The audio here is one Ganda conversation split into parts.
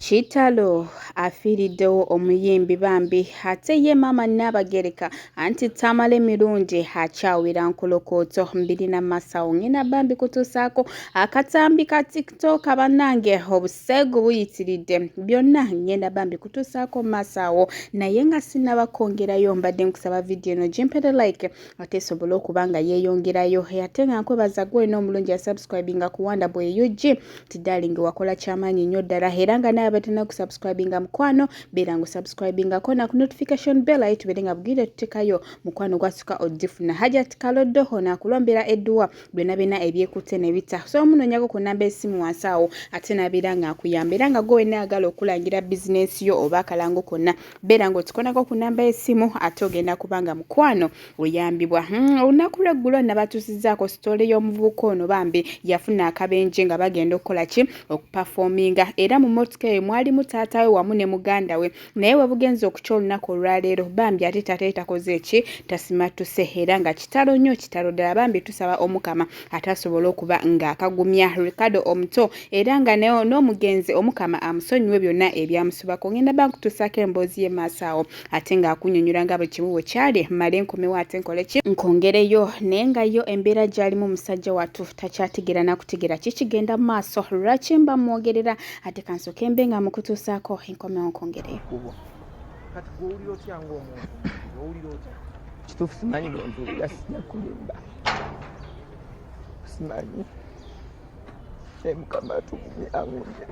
Kitalo afiiriddewo omuyimbi bambi ate ye maama Nnaabagereka anti Tamale Mirundi akyawira nkolokooto mbiri na masawo ng'ina bambi kutuusaako akatambi ka TikTok bannange obuseegu buyitiridde byonna ng'enda bambi kutuusaako masawo naye nga sinnaba kwongerayo mbadde nkusaba vidiyo eno gimpere like ate esobole okuba nga yeeyongerayo ate nga nkwebaza gwe olina omulungi yasubscribinga ku wanda bwe ug nti darling wakola kyamaanyi nnyo ddala era nga naye abatana kusubscribinga mukwano beera nga osubscribingako na ku notification bell aye tubeere nga bugire tutekayo mukwano gwasuka ogifuna hajat kaloddo ono akulombera edduwa byonna byonna ebyekutte ne bita so omunonyako ku namba esimu wansi awo ate nabeera nga akuyamba era nga gwe wenna ayagala okulangira bizinensi yo oba akalango konna beera ng'otukonako ku namba y'essimu ate ogenda kubanga mukwano oyambibwa hmm, olunaku lweggulo nabatuusizaako sitoole y'omuvubuka ono bambi yafuna akabenje nga bagenda okukola ki okupafoominga era mu motoka eyo mwalimu taata we wamu ne muganda we naye we bugenza okukya olunaku olwaleero bambi ate taata ye takoze eki tasimattuse era nga kitalo nnyo kitalo ddala bambi tusaba omukama ate asobole okuba ng'akagumya ricardo omuto era nga n'omugenzi omukama amusonyiwe byonna ebyamusubako ngenda ba nkutuusaako emboozi ye maaso awo ate ng'akunyonyola nga buli kimu bwe kyali male nkomewo ate nkole ki nkongereyo naye nga yo embeera gy'alimu musajja wattu takyategeera nakutegeera kikigenda mu maaso lwaki mba mwogerera ate kansoke mbe nga mukutuusaako enkomewo nkongereyo kati gwowulira otya ngaomuntu owulira otya kituufu simanyi bwempulira sija kulimba simanyi naye mukama atugumye angunye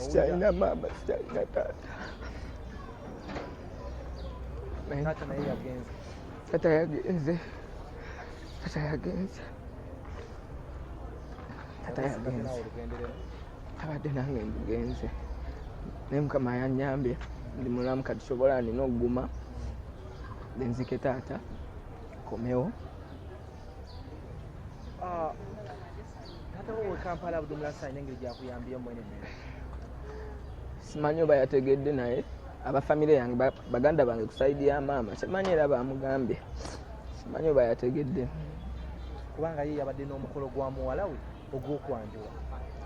sikyalina maama sikyalina taata tata yagenze tata yagenze tata yagenze abadde nange ngenze naye mukama yanyambye ndi mulamu kati sobola nina okuguma nenzike taata komewo ah, simanyi oba yategedde naye aba famire yange baganda bange kusaidi ya maama simanyi era bamugambye simanyi oba yategedde kubanga ye yabadde n'omukolo gwa muwala we ogw'okwanjula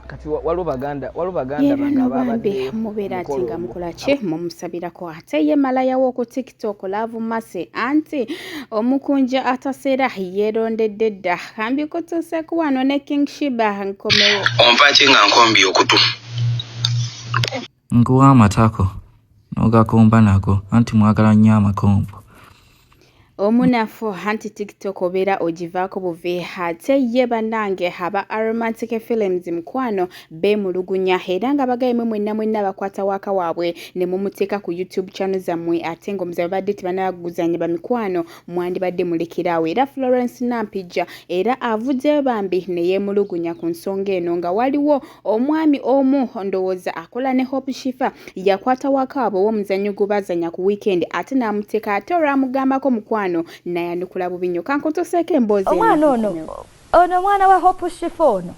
kati waliwo baganda waliwo baganda bano bambi mubeera ati nga mukola ki mumusabirako ate ye malaya w'oku tiktok laavu mase anti omukunja ataseera yeerondedde dda kambi kutuuseku wano ne king shiba nkomewo ompaki nga nkombi okutu Nkuwa amatako n'ogakomba nago anti mwagala nnyo amakombo. Omunafu anti TikTok obeera ogivaako buvi ate ye bannange aba Aromantic Films mukwano beemulugunya era nga bagaye mwe mwenna mwenna bakwata waaka waabwe ne mumuteeka ku YouTube channel zammwe ate ng'omuze babadde tebanaba kuguzannya bamikwano mwandibadde mulekeraawo era Florence Nampijja era avuddeyo bambi ne yeemulugunya ku nsonga eno nga waliwo omwami omu ndowooza akola ne Hope Shifa yakwata wakaabo ow'omuzannyo gwe bazanya ku wiikendi ate n'amuteeka ate olwamugambako mukwano nayanukula bubi nnyo kankutuseeko emboozi omwana ono ono omwana wa Hope Shifa ono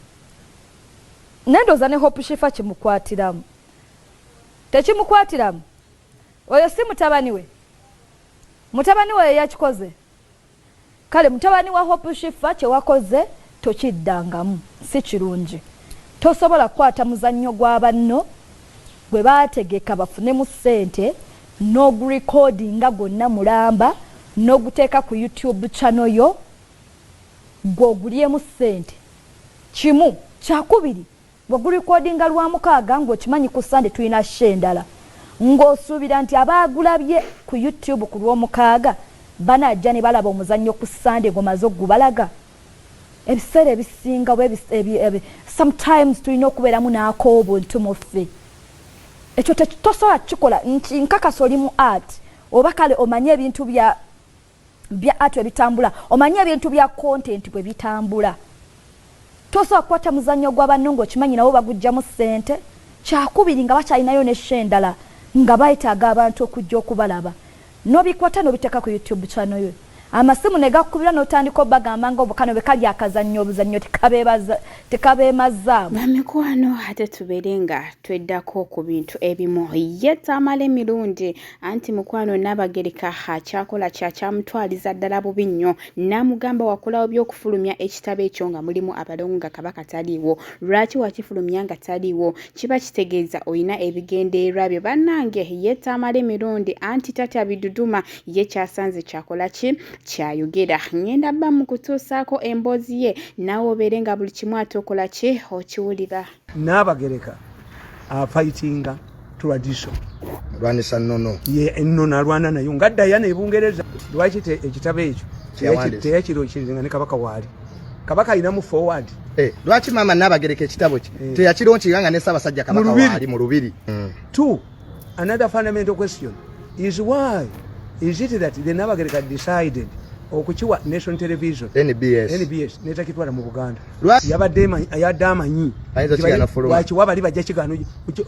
naye ndowooza ne Hope Shifa kimukwatiramu tekimukwatiramu oyo si mutabani we Mutabani wo yeyakikoze. Kale mutabani wa Hope Shiffa kyewakoze tokiddangamu. Si kirungi. Tosobola kukwata muzannyo gwa banno gwe baategeka bafunemu ssente n'ogurecordinga gwonna mulamba n'oguteeka ku YouTube channel yo ggwe ogulyemu ssente kimu. Kyakubiri Bwe gulikodinga Lwamukaaga ng'okimanyi ku Ssande tulina show endala ng'osuubira nti abaagulabye ku YouTube ku Lwomukaaga banajja ne balaba omuzannyo ku Ssande ng'omaze okugubalaga? Ebiseera ebisinga oba sometimes tulina okubeeramu n'ak'obuntu mu ffe. Ekyo tosobola kukikola nti nkakasa oli mu art oba kale omanyi ebintu bya Bya art webitambula omanyi ebintu bya content bwebitambula tosobola kukwata muzanyo gwa banno nga okimanyi nawo bagujjamu sente kyakubiri nga bakyalinayo ne show endala nga betaga abantu okujja okubalaba nobikwata nobiteka ku YouTube channel yo amasimu negakukubira notandika obagamba nga obukano bwekali akazanyo obuzanyo tekabebaza tekabemazaamu bamikwano ate tubere nga tweddako ku bintu ebimu yetaamala emirundi anti mukwano Nnaabagereka akyakola kya kyamutwaliza ddala bubi nnyo n'amugamba wakolawo by'okufulumya ekitabo ekyo nga mulimu abalongo nga kabaka taliiwo lwaki wakifulumya nga taliiwo kiba kitegeeza olina ebigendererwa byo bannange ye taamala emirundi anti tatya biduduma ye kyasanze kyakola ki kyayogera ngenda bba mu kutuusaako emboozi ye naawe obeere nga buli kimu ate okola ki okiwulira Nnaabagereka afayitinga tradition alwanisa nnono ye ennono alwana nayo nga dayana e bungereza lwaki ekitabo ekyo teyakirokiringa ne kabaka waali kabaka alinamu forward eh, lwaki maama nnaabagereka ekitabo kye eh. teyakironkirira nga ne ssaabasajja kabaka waali mu lubiri hmm. Another fundamental question is why is it that the Nabagereka decided okukiwa Nation Television NBS, NBS netakitwala mu Buganda yabadde yadde amanyi wakiwa bali bajja kigaano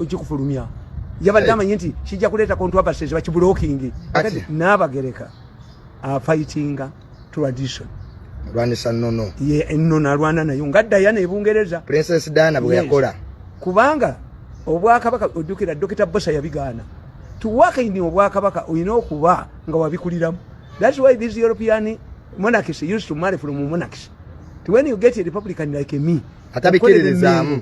okikufulumya yabadde amanyi nti kijja kuleeta controversies bakibulokingi Nabagereka afayitinga tradition alwanisa nnono ye ennono alwana nayo nga dayana ebungereza princess dana bwe yakola yes. kubanga obwakabaka ojjukira dokita bosa yabigaana tuwakaini obwakabaka olina okuba nga wabikuliramu thats why this european monarchs used to marry from monarchs when you get a republican like me atabikiririzaamu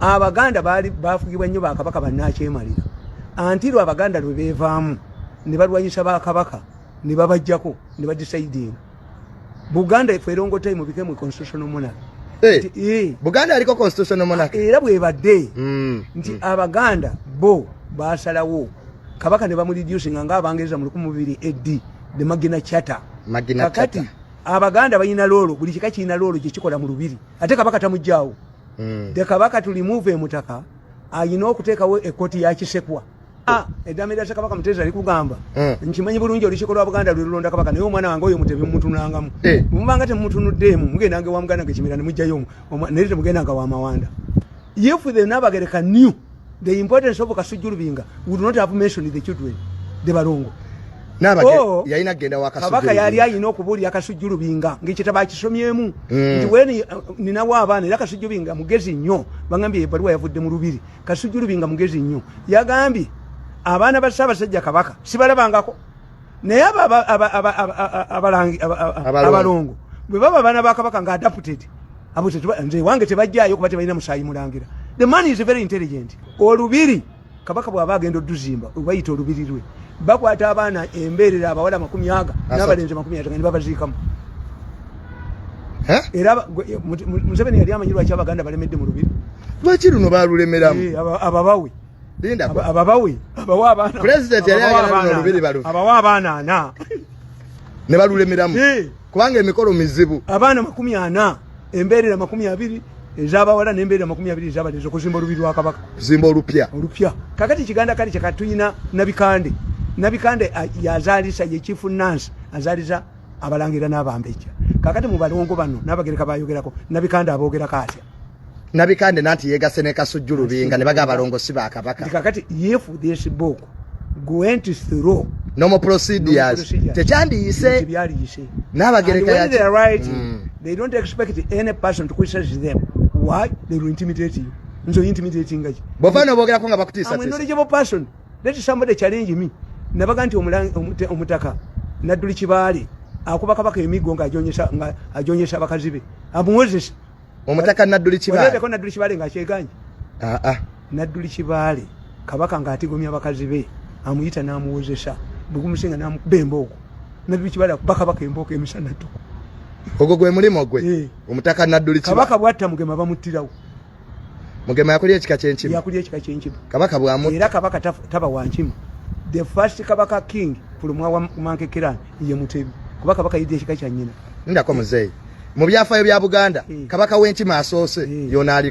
abaganda baali bafugibwa nnyo bakabaka bannakyemalira antirw abaganda lwe beevaamu ne balwanyisa bakabaka ne babajjako ne badisaidinga buganda efe erongotai mu bikemu constitutional monarch eh. buganda aliko constitutional monarch era bwebadde hmm. nti hmm. abaganda bo basalawo kabaka ne bamureducinga nga abangereza mu lukumi bubiri ed the magina chata kakati abaganda balina loolo buli kika kirina loolo gyekikola mu lubiri ate kabaka tamujjaawo mm. de kabaka to remove emutaka ayina okuteekawo ekoti ya kisekwa ah, edame lya kabaka muteza likugamba mm. nkimanyi bulungi olukiiko lwa buganda lwe lulonda kabaka naye omwana wange oyo mutebi mumutunangamu eh. mubanga temutunuddeemu mugendanga ewa muganda nga ekimira ne mujjayo naye temugendanga wa mawanda yefude nabagereka new the importance of kasujju lubinga would not have mentioned the children the balongo oh, yalina kugenda wakabaka yali alina okubuulira kasujju lubinga ngaekitabo akisomyemu mm. nti wen uh, ninawo abaana era kasujju lubinga mugezi nnyo bagambye ebaluwa yavudde mu lubiri kasujju lubinga mugezi nnyo yagambye abaana ba ssaabasajja kabaka sibalabangako naye abalongo bwe baba abaana ba kabaka nga adapted abo nze ewange tebajjayo kuba tebalina musaayi mulangira the man is very intelligent olubiri kabaka bw'aba agenda oduzimba obayita olubiri lwe bakwata abaana embeerera abawala amakumi aga n'abalenzi amakumi ataga ne babaziikamu era museveni yali amanyi lwaki abaganda balemedde mu lubiri lwaki luno balulemeramu eh, ababawe Linda kwa. Ababawi. Abawa abana. President yali ayagala olubiri balu. Abawa abana ana. Ne balulemeramu. Eh. Kubanga emikolo mizibu. Abana makumi ana. Embere na makumi abiri. Ezaba wala ne mbere makumi abiri ezaba lezo kuzimba olubiri wa kabaka. Zimba olupya. Olupya. Kakati kiganda kali chakatuyina nabikande. Nabikande ah, yazalisa ye chief nurse. Azaliza. abalangira n'abambejja kakati mu balongo bano n'abagereka bayogerako nabikanda aboogerako atya nabikande nanti yegase ne kasujju lubinga ne baga abalongo si ba kabaka kakati if this book went through normal procedures tekyandiyise byaliyise n'abagereka yaki they are right mm. they don't expect any person to criticize them why they will intimidate you nzo intimidating ngaji bovano bogerako nga bakutisa tisa i'm a knowledgeable person let somebody challenge me nabaga nti omutaka nadduli kibaale akuba kabaka emigo nga ajonyesa abakazi be amuwozesa omutaka nadduli kibaaleeko nadduli kibaale nga akyeganye ah, ah. nadduli kibaale kabaka nga atigomya abakazi be amuyita n'amuwozesa bwegumusinga namukuba embooko nadduli kibaale akuba kabaka embooko emisana tuku ogwo gwe mulimu gwe eh. omutaka nadduli kabaka bwatta mugema bamuttirawo mugema yakulya ekika kyenkima yakulya ekika kyenkima kabaka bwamu era kabaka taba wankima the first kabaka king kulumwa wa mankekera ye mutebi kuba kabaka yidde ekika kya nyina ndako muzeyi mu byafayo bya buganda eh. kabaka w'enkima asoose eh. yona aliko